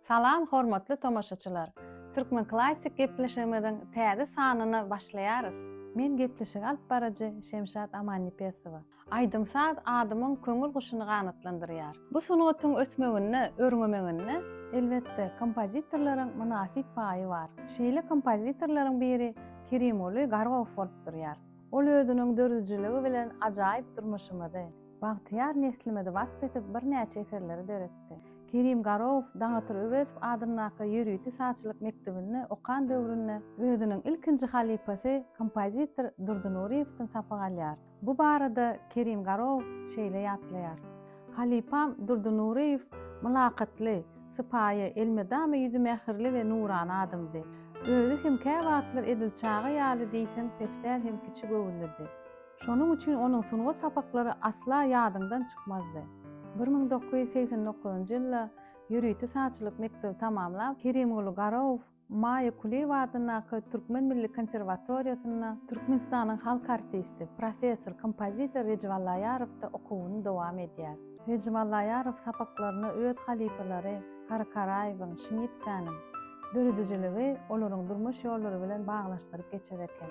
Salam hormatly tomaşaçylar! Türkmen Klassik gepleşigimiziň täze sanyna başlaýarys. Men gepleşigi alyp baryjy Şemşat Amannepesowa. Aýdym-saz adamyň köňül guşuny ganatlandyrýar. Bu sungatyň ösmeginde, örňemeginde, elbetde, kompozitorlaryň mynasyp paýy bar. Şeýle kompozitorlaryň biri Kerimguly Gargow bolup durýar. Ol özüniň dördüjiligi bilen ajaýyp durmuşymyzy, Bagtyýar neslimizi wasp edip birnäçe eserleri döretdi. Kerim Garow, Daňatyr Öwezow adyndaky ýörite sazçylyk mekdebinde okan döwründe özüniň ilkinji halypasy kompozitor Durdy Nuryýewden sapak alýar. Bu barada Kerim Garow şeýle ýatlaýar, Halypam Durdy Nuryýew mylakatly, sypaýy, elmydama ýüzi mähirli we nurana adamdy. Özi hem käwagtlar edil çaga ýaly diýseň pespäl hem kiçi göwünlidi. Şonuň üçin onuň sungat sapaklary asla ýadyňdan çykmazdy. Bir müň dokuz ýüz segsen dokuzynjy ýylda ýörite sazçylyk mekdebi tamamlap, Kerimguly Garow Maýa Kulyýewa adyndaky Türkmen milli konserwatoriýasynda Türkmenistanyň halk artisti, professor, kompozitor Rejep Allaýarowda okuwyny dowam edýär. Rejep Allaýarow sapaklaryna öz halypalary Kary Karaýewiň, Şmidkäniň döredijiligi olaryň durmuş ýollary bilen baglanyşdyryp geçer eken.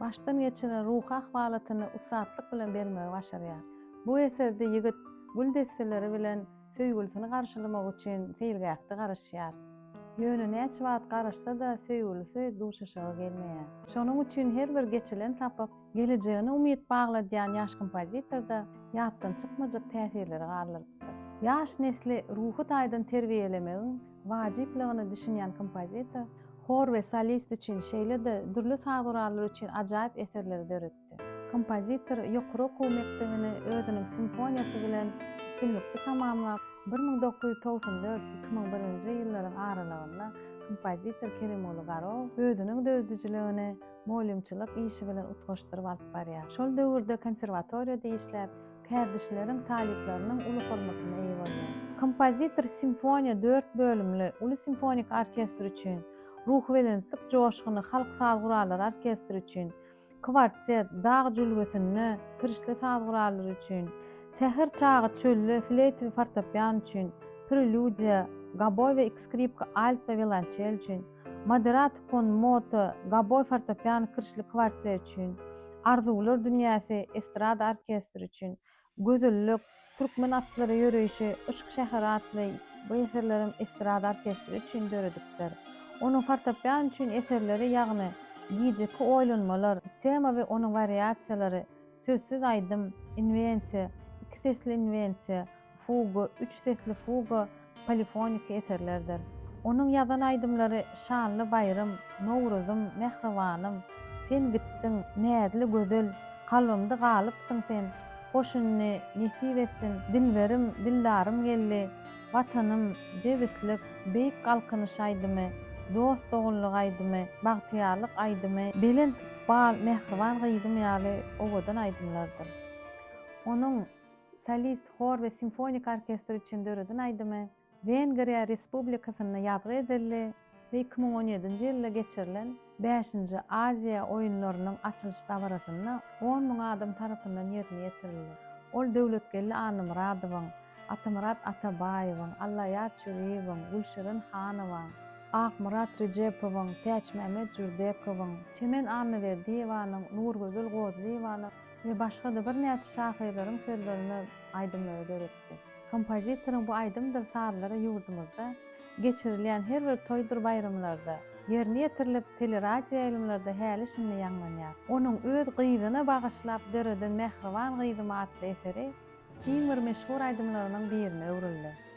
başdan geçiren ruhy ahwalatyny ussatlyk bilen bermegi başarýar. Bu eserde ýigit gül desseleri bilen söýgülisini garşylamak üçin seýilgähde garaşýar. Ýöne näçe wagt garaşsa-da söýgülisi duşuşyga gelmeýär. Şonuň üçin her bir geçilen sapak gelejegine umyt bagladýan ýaş kompozitorda ýatdan çykmajak täsirleri galdyrypdyr. Ýaş nesli ruhy taýdan terbiýelemegiň wajyplygyna düşünýän kompozitor, hor we solist üçin, şeýle-de dürli saz gurallary üçin ajaýyp eserleri döretdi. Kompozitor ýokary okuw mekdebini özüniň simfoniýasy bilen üstünlikli tamamlap, bir müň dokuz ýüz togsan dört, iki müň birinji ýyllaryň aralygynda kompozitor Kerimguly Garow özüniň döredijiligini mugallymçylyk işi bilen utgaşdyryp alyp barýar. Şol döwürde konserwatoriýada işläp, Kärdeşleriň, talyplarynyň uly hormatyna eýe bolýar. Kompozitor simfoniýa dört bölümli uly simfoniki orkestr üçin, ruhubelentlik joşguny halk saz gurallary orkestri üçin, kwartet, dag jülgesinde kirişli saz gurallary üçin, säher çagy çölde fleýta we fortepian üçin, prelýudiýa, goboý we ikskripka, alt we wiolançel üçin, Moderat Kon Moto, Gaboý fortepiano kirşli kwartet üçin, Arzuwlar dünýäsi estrada orkestri üçin, Gözellik, Türkmen atlary ýöreýşi, Yşk şäheri atly bu eserlerem estrada orkestri üçin döredipdir. Onuň fortepiano üçin eserleri ýagny Gijeki oýlanmalar, Tema we onuň wariasiýalary, Sözsüz aýdym, Inwensiýa, Iki sesli inwensiýa, Fuga, üç sesli fuga, polifoniki eserlerdir. Onuň ýazan aýdymlary Şanly baýram, Nowruzym, Mähribanym, Sen gitdiň, Näzli gözel, Kalbymda galypsyň sen, Goşunyny nesip etsin, Dilberim, Dildarym geldi, Watanym, Jebislik, Beýik galkynyş aýdymy, Dost-doganlyk aýdymy, Bagtyýarlyk aýdymy, Belent ykbal, Mähriban gyzym ýaly owadan aýdymlardyr. Onuň. solist, hor we simfoniki orkestr üçin döreden aýdymy Wengriýa Respublikasynda ýazgy edildi we iki müň on ýedinji ýylda geçirilen Bäşinji Aziýa oýunlarynyň açylyş dabarasynda on müň adam tarapyndan ýerine ýetirildi. Ol Döwletgeldi Annamyradowyň, Atamyrat Atabaýewiň, Allaýar Çüriýewiň, Gülşirin Hanowaň, Akmyrat Rejepowyň, Täçmämmet Jürdekowyň, Çemen Annaberdiýewanyň, Nurgözel Gozlyýewanyň, we başga-da birnäçe şahyrlaryň sözlerine aýdymlary döretdi. Kompozitoryň bu aýdymdyr sazlary ýurdumyzda geçirilýän her bir toýdur baýramlarda ýerine ýetirilip, teleradioýaýlymlarda häli-şindi ýaňlanýar. Onuň öz gyzyna bagyşlap döreden Mähriban gyzym atly eseri iň bir meşhur aýdymlarynyň birine öwrüldi.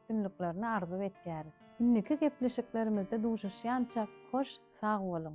üstünliklerini arzuw etýäris. Indiki gepleşiklerimizde duşuşýançak hoş sag boluň.